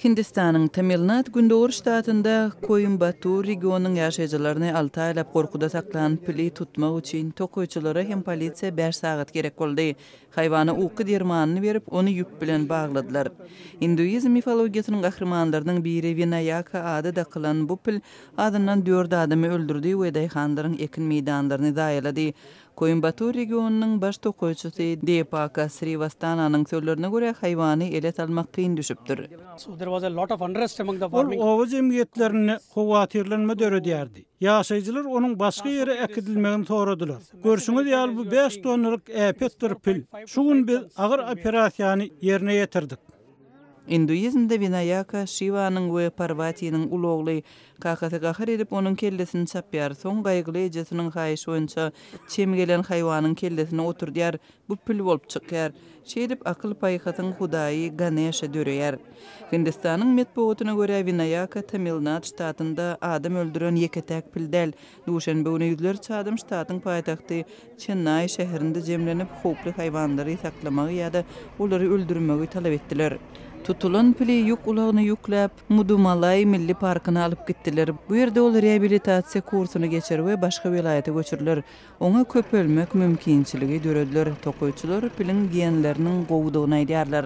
Hindistanyň Tamilnad gündogar ştatynda Koimbatur regionynyň ýaşaýjylaryny alty aýlap gorkuda saklan pili tutmak üçin tokaýçylara hem polisiýa bäş sagat gerek boldy. Haýwana uky dermanyny berip, ony ýüp bilen bagladylar. Induizm mifologiýasynyň gahrymanlarynyň biri Winaýaka ady dakylan bu pil azyndan dört adamy öldürdi we daýhanlaryň ekin meýdanlaryny zaýalady. Koimbatur regionynyň baş tokaýçysy Deepaka Srivastananyň sözlerine görä, haýwany ele salmak kyn düşüpdir. Ol oba jemgyýetlerinde howatyrlanma döredýärdi. Ýaşaýjylar onuň başga ýere äkidilmegini soradylar. Görşüňiz ýaly bu bäş tonnalyk äpetdir pil. Şu gün biz agyr operasiýany ýerine ýetirdik. Induizmde Winaýaka Şiwanyň we Parwatiniň uly ogly, kakasy gahar edip onuň kellesini çapýar, soň gaýgyly ejesiniň haýyşy boýunça çem gelen haýwanyň kellesini oturdýar, bu pil bolup çykýar. Şeýdip akyl-paýhasyň hudaýy Ganesha döreýär. Hindistanyň metbugatyna görä Winaýaka Tamilnad ştatynda adam öldüren ýeke-täk pil däl, Duşenbe güni ýüzlerçe adam ştatyň paýtagty Çennaý şäherinde jemlenip, howply haýwanlary saklamagy ýa-da olary öldürmegi talap etdiler. Tutulan pili ýük ulagyna ýükläp, Mudumalaý milli parkyna alyp gitdiler. Bu ýerde ol reabilitasiýa kursuny geçer we başga welaýata göçüriler. Oňa köpelmek mümkinçiligi dörediler. Tokaýçylar piliň genleriniň gowudygyny aýdýarlar.